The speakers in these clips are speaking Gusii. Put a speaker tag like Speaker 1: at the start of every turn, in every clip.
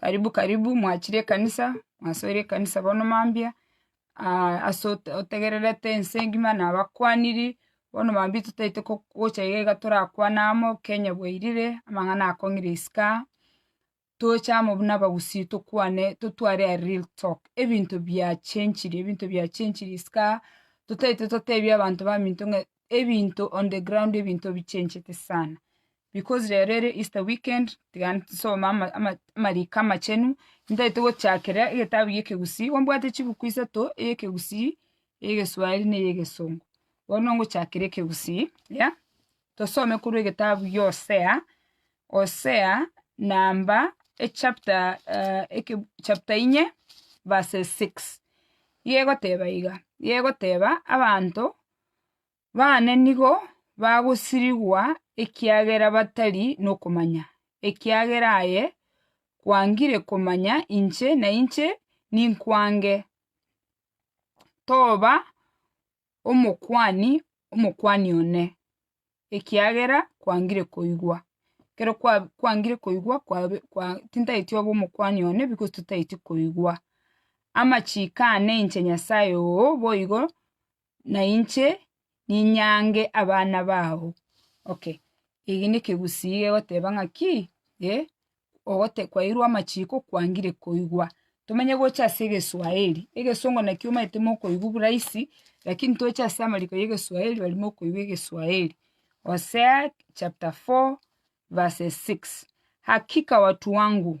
Speaker 1: Karibu karibu mwachire ekanisa, mwasoire ekanisa bono mambia, ase ote- otegererete ense engima nabakwaniri, bono mambia totaete ko- gocha iga iga torakwane amo, Kenya bwairire, amang'ana akong'ire isiko aa, toche amo buna abagusii tokwane totware a real talk, ebinto biachenchire ebinto biachenchire isiko aa, totaete totebie abanto baminto ng'a ebinto on the ground ebinto bichenchete sana because rero ere Easter weekend tiga nsome ama- ama- amariko amachenu ntaete gochakera egetabu gia ekegusii igo mbwate chibuku isato eya ekegusii, eya egeswahili na eya egesongo. Bono ngochakera ekegusii ya, tosome korwa egetabu gia Hosea, Hosea namba echapter eke- chapter inye verse six, igo egoteba iga, igo egoteba abanto. baane nigo bagosirigwa ekiagera batari nokomanya, ekiagera aye kwangire komanya inche na inche ninkwange, Toba omokuani omokuani one, ekiagera kwangire koigwa. Ekero kwa- kwangire koigwa kwabe kwa tintageti obe omokuani one because totageti koigwa. Amachiko ane inche Nyasae oo boigo na inche ninyange abana bao. Okay, eki nekegusii kegoteba ng'aki, eh, ogote kwairwe amachiko kwangire koigwa. Tomenye gocha ase egeswaeri, egesongo nakio omanyete mokoigwa oburaisi, lakini tocha ase amariko ya egeswaeri bari mokoigwa egeswaeri. Hosea chapter four verse six, hakika watu wangu.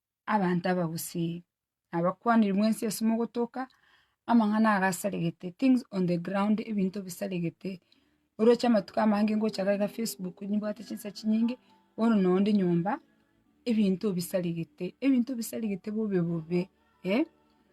Speaker 1: abanto abagusii, na abakwaniri mwensi ase mogotoka, amang'ana aya gasaregete, things on the ground ebinto bisaregete, oroche amatuko amange ngocha iga iga facebook nimbwate chinsa chinyinge, bono noo inde nyomba, ebinto bisaregete, ebinto bisaregete bobe bobe.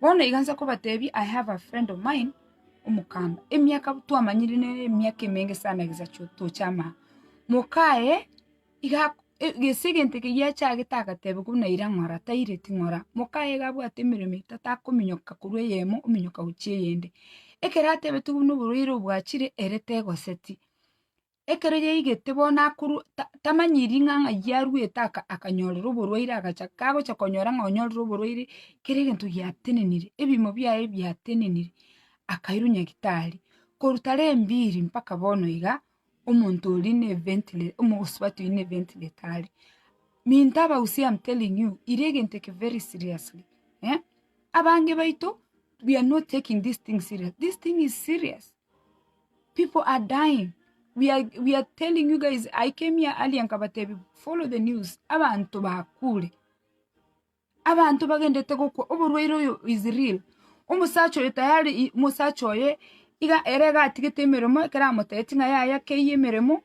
Speaker 1: Bono iga inse nkobateebie, I have a friend of mine, omokamba, emiaka twamanyire nere emiaka emenge sana egisacha ekisacha toche amang'ana. Moka aye iga ak- e- gese egento eke giachagete agateba buna ira ng'ora taire ting'ora, moka aye iga abwate emeremo etato akominyoka korwa eyemo ominyoka gochia eyende. Ekero atebeti buna oborwaire obwachire ere tegoseti. ekero yaigete bono akorwa tamanyiri ng'a ng'ai arwete akanyorera oborwaire agacha kagocha konyora ng'a onyorire oborwaire kera egento giatenenire, ebimo biaye biatenenire, akairwa nyagitari, korwa tarehe mbili mpaka bono iga, omonto oria ne ventile omosubati oria ne ventileta are. Minto aba u see am telling you ira egento eke very seriously eh, abange baito we are not taking this thing serious, this thing is serious. People are dying we are we are telling you guys I came here earlier nkabatebi follow the news abanto bakure abanto bagendete gokwa oborwaire oyo is real omosacha oyo tayari i- mosacha oye iga ere iga atigete emeremo ekero amotebeti ng'a yaya keiyo emeremo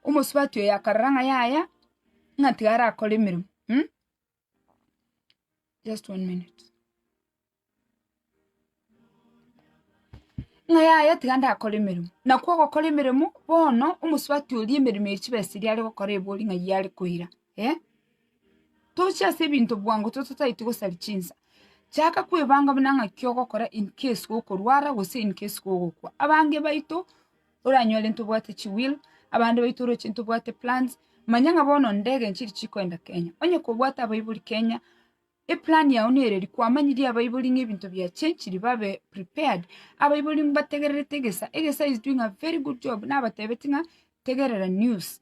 Speaker 1: omosubati oyo akarora ng'a yaya ng'a tiga arakore emeremo. Ng'a yaya tiga ndakore emeremo, nakwo ogokora emeremo bono omosubati oria emeremo ya chibesa eria are gokora ebori ng'a eyio are koira eh. Tochia ase ebinto bwango toto totagete gosaria chinsa, chaka kwebanga buna ng'aki ogokora incase gokorwara gose incase gogokwa. Abange baito Oranyore ntobwate chi will, abande baito oroche ntobwate plans, manya ng'a bono ndege nchiri chikoenda Kenya. Onye kobwate abaibori Kenya, eplan yao nere eri, kwamanyirie abaibori ng'a ebinto bia chenchiri babe prepared. Abaibori mbategererete egesa, egesa is doing a very good job, nabatebetie ng'a tegerera news.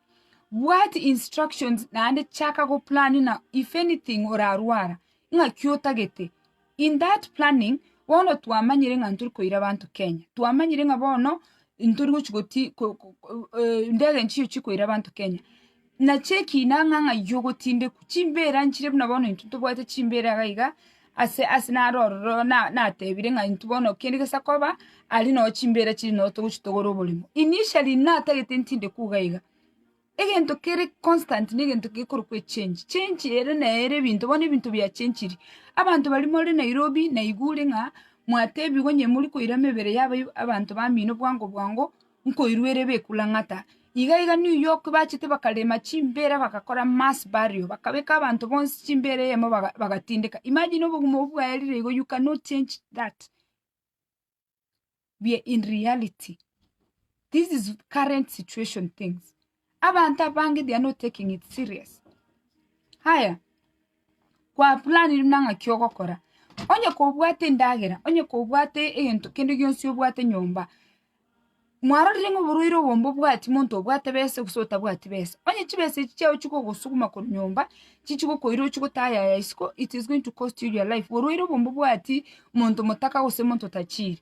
Speaker 1: Bwati instructions naende chaka go plan na if anything orarwara ng'aki otagete. In that planning bono twamanyire ng'a ntori koira abanto Kenya. Twamanyire ng'a bono ntori gochi goti ko- ko- ko- eh, ndege enche chigochi koira abanto Kenya. Nache ekina ng'a ng'ai ogotindekwa, chimbera nchire buna bono intwe tobwate chimbera iga iga, Ase ase naro ororo natebire ng'a intwe bono kende gesa koba aria noo chimbeera chiri noo togochi togore oborimo. Initially natagete ntinde kuga iga. Egento kere constant ne gento gekorokwa echange. Change ere neye ere ebinto bono ebinto bia changire. Abanto baria more Nairobi naigure ng'a mwatebiwe onye morikoira mebere yabo abanto bamino bwango bwango. nkoiruera ebekulang'ata. Iga iga New York bachete bakarema chimbera bagakora mass burial bakabeka abanto bonsi chimbera eyemo baga bagatindeka. Imagine obogima obwo bwaye rire igo you cannot change that. We are in reality. This is current situation things. Abanto abange they are not taking it serious. Haya, kwa planire buna ng'aki ogokora. Onye kobwate endagera, onye kobwate egento kende gionsi obwate nyomba, mwarorire ng'a oborwaire obo mbobwati monto obwate besa gose otabwati besa. Onye chibesa echi chiao chikogosuguma korwa nyomba, chichigokoira ochie gotaha yaya isiko, it is going to cost you your life. Borwaire obo mbobwati monto motaka gose monto tachiri.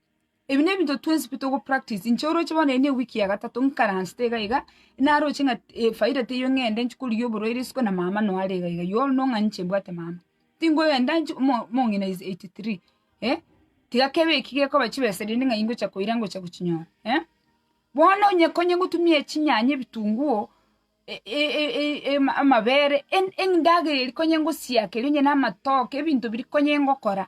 Speaker 1: Ebi nebinto twensi pi togo practice, inche oroche bono eye ne ewiki ya gatato nkaransete iga iga, naroche ng'a efaida teiyo ng'ende inche korigia oborwaire isiko na mama no are iga iga, you all know ng'a ninche mbwate mama, tingogenda inche omo omong'ina is eighty three eh, tiga kebe eki gekoba chibesa rende ng'a ingocha koira ngocha gochinyora eh, bono onye konye gotumia echinyanya ebitunguo e- e- e- e- ema amabere en- endagera eria konye ngosiakeri onye na amatoke ebinto biria konye ngokora.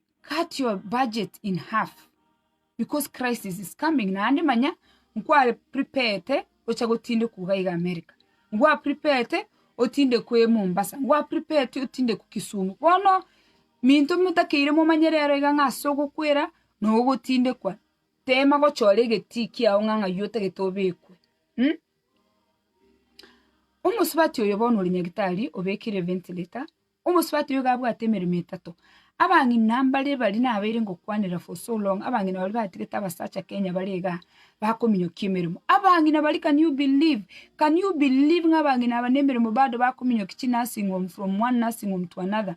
Speaker 1: cut your budget in half because crisis is coming naende manya nkware preparete gocha gotindekwa iga iga America, nkwa preparete otindekwe Mombasa, nkwa preparete otindekwe Kisumu, bono minto motakeire momanye rero iga ng'a ase ogokwera na ogotindekwa, tema gochora egetii kiao ng'a ng'ai otagete obekwe mh. Omosubati oyo bono ore nyagetari obekire ventilator. Omosubati oyo iga abwate emeremo etato. Abang'ina mbare baria nabeire ngokwanera for so long, abang'ina baria batigete abasacha Kenya bare igaa, bakominyokia emeremo. Abang'ina baria can you believe, can you believe ng'a abang'ina aba nemeremo bado bakominyokia chi nursing home from one nursing home to another,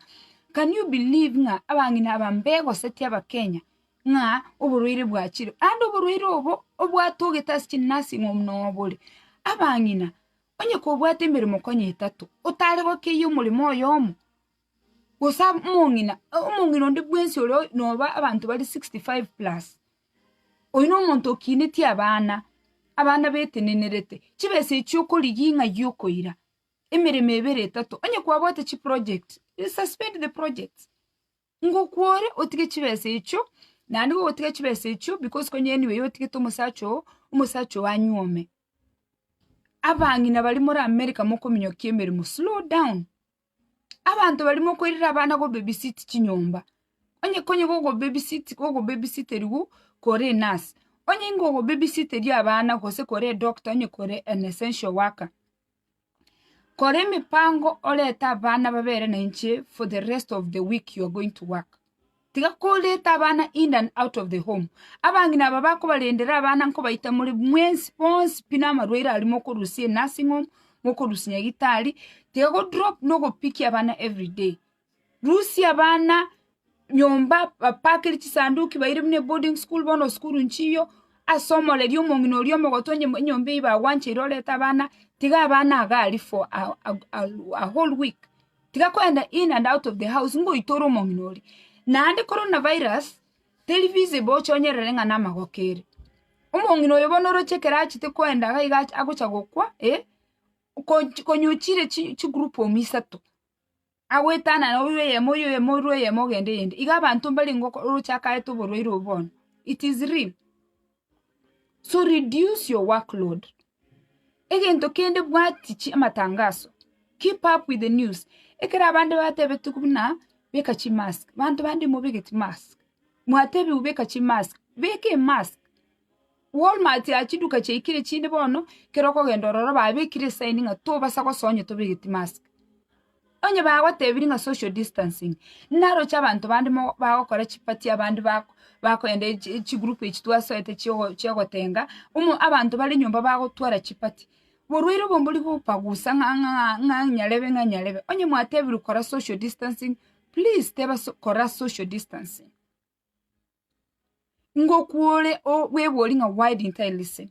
Speaker 1: can you believe ng'a abang'ina aba mbegosetie abakenya ng'a oborwaire bwachire, naende oborwaire obo obwatogete ase chi nursing home nobore. Abang'ina. Onye kobwate emeremo konya etato, otare gokeyia omoremo oyomo, gose omong'ina, omong'ina onde bwensi oria noba abanto bare sixty five plus, oyio nomonto okinetie abana, abana betenenerete, chibesa echio okorigia ng'ai okoira, emeremo ebere etato, onye kwabwate chiprojects, you suspend the projects. Ngokwore otige chibesa echio, naende gogotiga chibesa echio because konya anyway otigete omosacha oo, omosacha oo anyuome. Abang'ina baria more America mokominyokia emeremo, slow down. Abanto baria mokoirera abana go baby sit chinyomba, onye konya gogo baby sit gogo baby siteriwu kore enurse, onye ingogo baby siteria abana gose kore edoctor onye kore an essential worker. Kora emipango orete abana babere na inche for the rest of the week you are going to work. Tiga koreta abana in and out of the home. Abang'ina aba bakobarendera abana nkobaita more mwensi bonsi pi na amarwaire aria mokorusia e nursing home, mokorusia nyagetari, tiga go drop na ogopikia abana every day. Rusia abana nyomba bapakere chisanduki baire buna eboarding school bono esukuru nchiyo ase omoreri omong'ina oria omogote onye enyomba eyio bagwancheire orete abana tiga abana iga aria for a whole week tiga kogenda in and out of the house ngoite ore omong'ina oria naende corona virus teri visible oche onyerere ng'a namagoko ere omong'ina oyo bono oroche ekero achete kogenda iga iga agocha gokwa konywa chire chigroup omo isato agoetanana orue oyemo, orue oyemo, orue oyemo ogende eyende. Iga abanto mbare ingo orochakarete oborwaire obo bono. It is real. So reduce your work load. Egento kende bwati chi amatangaso. Keep up with the news. Ekero abande batebeti buna beka chi mask, banto bande mobegeti mask. Mwatebiwu beka chi mask, beka emask. Walmart ya chiduka chiaikire chinde bono ekero okogenda ororo babekire esaini ng'a tobasa gosoa onye tobegeti mask. Onye bagotebirie ng'a social distancing, naroche abanto bande mo bagokora chiparty abande bako bakogenda echi chigroup echi twasoete chiogo chiogotenga, omo abanto bare nyomba bagotwara chiparty, borwaire obo mbori gopagusa ng'a ng'a ng'a nyarebe ng'a nyarebe. Onye mwatebirwe kora social distancing, please teba so kora social distancing. Ngokwore bwebori ng'a why didn't I listen?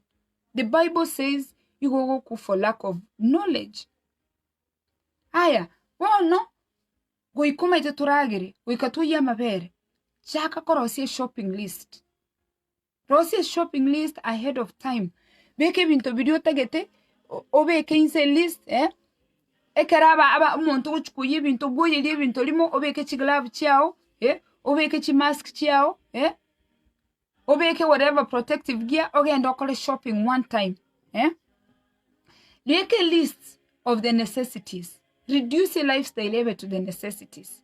Speaker 1: The Bible says nigo ogokwa for lack of knowledge. Aya bono goika omanyete toragere goika toyie amabere chaka korosia eshopping list. Rosia eshopping list ahead of time, beka ebinto biria otagete o- obeke inse elist eh, ekero aba- aba omonto ogochia koyia ebinto obwoyerie ebinto rimo obeke chiglove chiago eh, obeke chimask chiago eh, obeke whatever protective gear ogende okore shopping one time eh. Rika elist of the necessities, reduce your lifestyle ebe to the necessities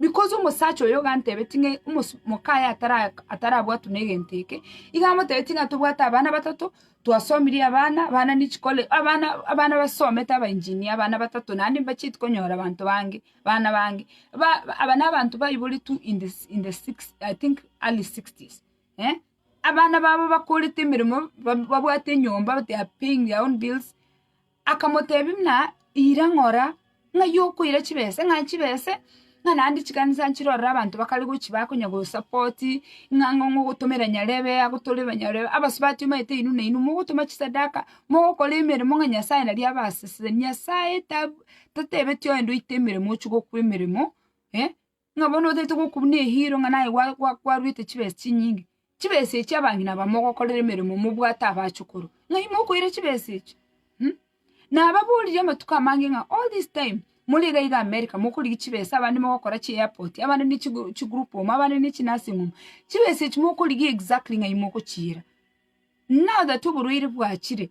Speaker 1: Because omosacha oyo gantebetie ng'a omoka aye atarabwatwe negento eke, iga amotebetie ng'a tobwate abana batato, twasomirie abana, abana ne chikole abana abana basomete aba engineer abana batato naende mbacheti konyora abanto bange, abana bange ba aba na abanto baiboretwe in the in the six i think early sixties eh, abana babo bakorete emeremo, ba babwate enyomba they are paying their own bills. Akamotebia, Buna ira ng'ora ng'a y'okoira chibesa, ng'a chibesa, ng'a naende chikanisa nchire ororo abanto bakare gochibaka onya gosupport, ng'a ng'a ogotomera nyarebe agotore nyarebe abasubati omanyete inwe na inwe mogotoma chisadaka, mogokora emeremo ng'a Nyasaye nari abaseseni. Nyasaye tab totebeti oende oite emeremo ochia gokwa emeremo eh. ng'a bono otaete gokobuna ehiiro ng'a naye gwa- gwa- gwaruete chibesa chinyinge, chibesa echi abang'ina aba mogokorera emeremo mobwate abachukuru, ng'ai mokoira chibesa echi? Nababoririe amatuko amange ng'a all this time more iga iga america mokorigia chibesa abande mogokora chi airport, abande ne chigo chigroup home, abande ne chi nursing home, chibesa echi mokorigia exactly ng'ai mogochiira? Now that oborwaire bwachire.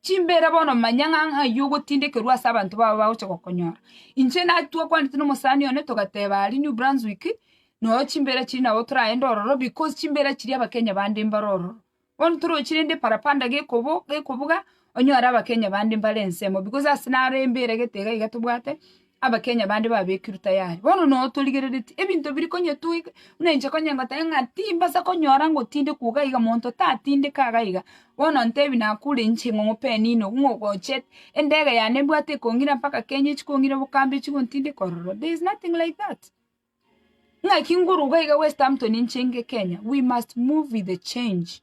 Speaker 1: Chimbeera bono manya ng'a ng'ai ogotindekerwa ase abanto babo bagocha gokonyora. Inche naki twakwanete nomosani one togateba aria New Brunswick noyo chimbeera chiri nabo toragende ororo because chimbeera chiria abakenya bande mbare ororo. Bono torochi rende parapanda gekobo gekobuga onyore abakenya bande mbare ensemo because ase naro embeera gete iga iga tobwate Abakenya bande babekirwe tayari. Bono noo torigereretie ebinto biri konyetuga buna inche konyengotebi ng'a timbasa konyora ngotindekwa iga iga monto tatindeka iga iga. Bono ntebi nakure inche ng'a omope nino ng'a ogochete, endege yane mbwate ekong'ira mpaka Kenya echikong'ira bokambe echigontindeka ororo. There is nothing like that. Ng'aki nguru iga iga Westhampton inche nge Kenya, we must move with the change.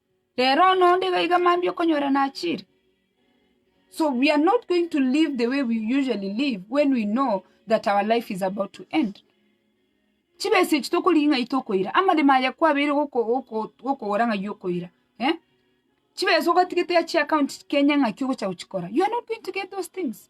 Speaker 1: Rero nonya onde iga iga mambia okonyora nachire. So we are not going to live the way we usually live when we know that our life is about to end. Chibesa echi tokorigia ng'ai tokoira, amaremo aya kwabeire goko- goko- gokogora ng'ai okoira eh? Chibesa ogatigete achia account Kenya ng'aki ogocha gochikora? You are not going to get those things.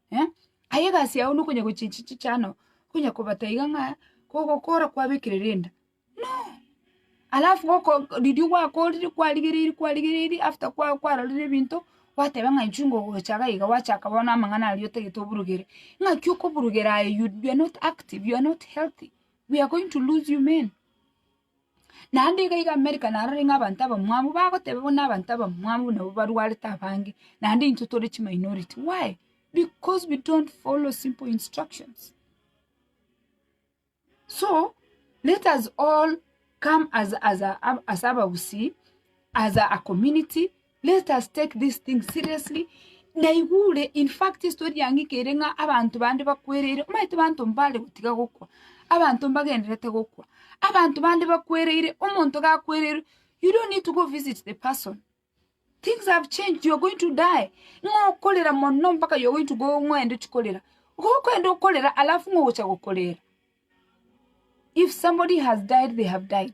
Speaker 1: eh, aye egasi yao nokonya gochinchi chichano, okonya kobata iga ng'a kogokora kwabekire rinda, no! Alafu goko riria gwakorire kwarigereiri kwarigereiri after kwa- kwarorire ebinto, gwateba ng'a inchuo ngogocha iga iga gwachaka bono amang'ana aria otagete oburugere, ng'aki okoburugera aye you- you're not active, you're not healthy, we are going to lose you men. Naende iga iga Amerika narore ng'a abanto abamwamu bagoteba buna abanto abamwamu nabo barwarete abange, naende intwe tore chiminority. Why? Because we don't follow simple instructions. So, let us all come as as a ase abagusii, as a community. Let us take this thing seriously naigure in fact story yang'ika ere ng'a abanto bande bakwereire omanyete abanto mbare gotiga gokwa abanto mbagendererete gokwa abanto bande bakwereire omonto gakwereirwe you don't need to go visit the person things have changed you are going to die ng'a okorera mono mpaka you are going to go ng'a oende ochi korera igo okoenda okorera alafu ng'a ogocha gokorera if somebody has died they have died.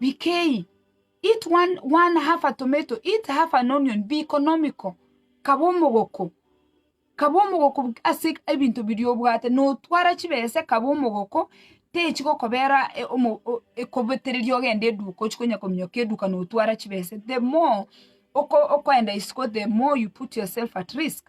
Speaker 1: Bikei, it one one half a tomato, it half an onion, be economical, kaba omogoko, kaba omogoko bu- ase ebinto biria obwate, notwara chibesa ekaba omogoko, techigokobera e- omo- o- ekobetereria ogende eduka ochia konya kominyoka eduka notwara chibesa, the more oko- okoenda isiko the more you put yourself at risk.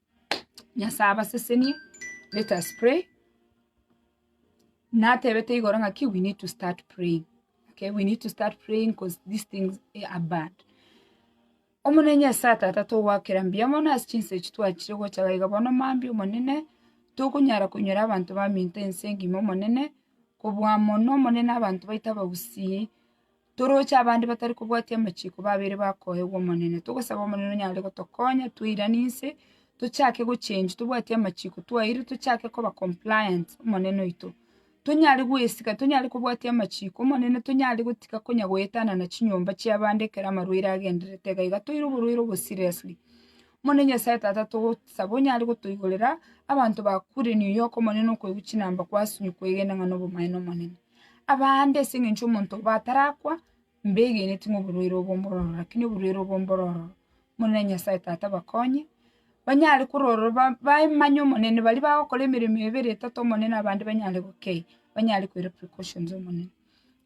Speaker 1: Nyasae abasesenie, let us pray, natebete igoro ng'aki we need to start praying, okay, we need to start praying coz these things eh, are bad. Omonene Nyasae tata togwakera mbuya mono ase chinsa echi twachire gocha gaiga bono mambia omonene tokonyara konyora abanto baminto ense engima omonene kobua mono omonene abanto baito abagusii toroche abande batari kobwatia amachiko babeire bakoegwa Omonene. Togosaba Omonene onyare gotokonya toirane inse, tochake gochenjwa tobwate amachiko twaeirwe tochake koba compliant Omonene oito. Tonyare goesika tonyare kobwatia amachiko Omonene tonyare gotiga konya goetana na chinyomba chia abande ekero amarwaire agendererete iga iga toire oborwaire obo seriously. Omonene Nyasaye Tata togosaba onyare gotoigorera abanto bakurenire oyoka Omonene okoigwa chinamba kwasumi kwegena ng'a nobomaene Omonene. Abande ase eng'encho omonto obo atarakwa, mbegeneti ng'a oborwaire obo mbororo, rakini oborwaire obo mbororo, Omonene Nyasae Tata bakonye, banyare kororo ba- bamanye Omonene, baria bagokora emeremo ebere etato Omonene abande banyare gokei, banyare koira precautions Omonene.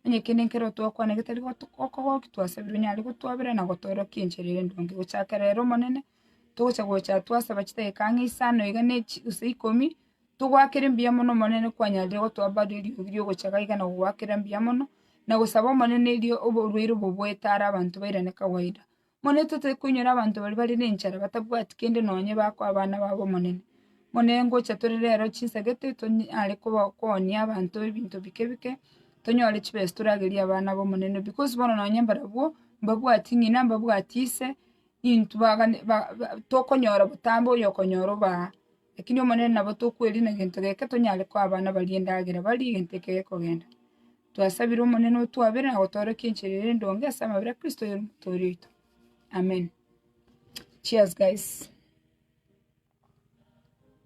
Speaker 1: Onye kende nkere otogokwana getari goto gokogokia twasabire onyare gotwabera na gotorokia enchera ere endonge. Gochakera ere Omonene, togocha gocha twasaba chidakika ang'e isano iga na echi gose ikomi. Togoakera mbuya mono Omonene kwanyareire gotoa baria eriogi riogochaga iga na gogoakera mbuya mono, na gosaba Omonene erio oborwaire obo boete ara abanto bairane kawaida. Monene totari koinyora abanto baria bare nenchara, batabwati kende nonye bakoa abana babo Omonene. Monene ngocha tore rero chinsagete tonyare koba- koonia abanto ebinto bike bike, tonyore chibesa toragerie abana b'Omonene, because bono nonye mbarabwo, mbabwati ng'ina, mbabwati ise, intwe bagane- ba- ba tokonyora botambe oyokonyora obaa. Lakini Omonene nabo tokweriina gento geke tonyare koa abana baria endagera barie gento ekio gekogenda. Twasabire Omonene otwabere na gotorokia enchera ere endonge ase amabera a Kristo oyore Omotoori oito. Amen. Cheers guys.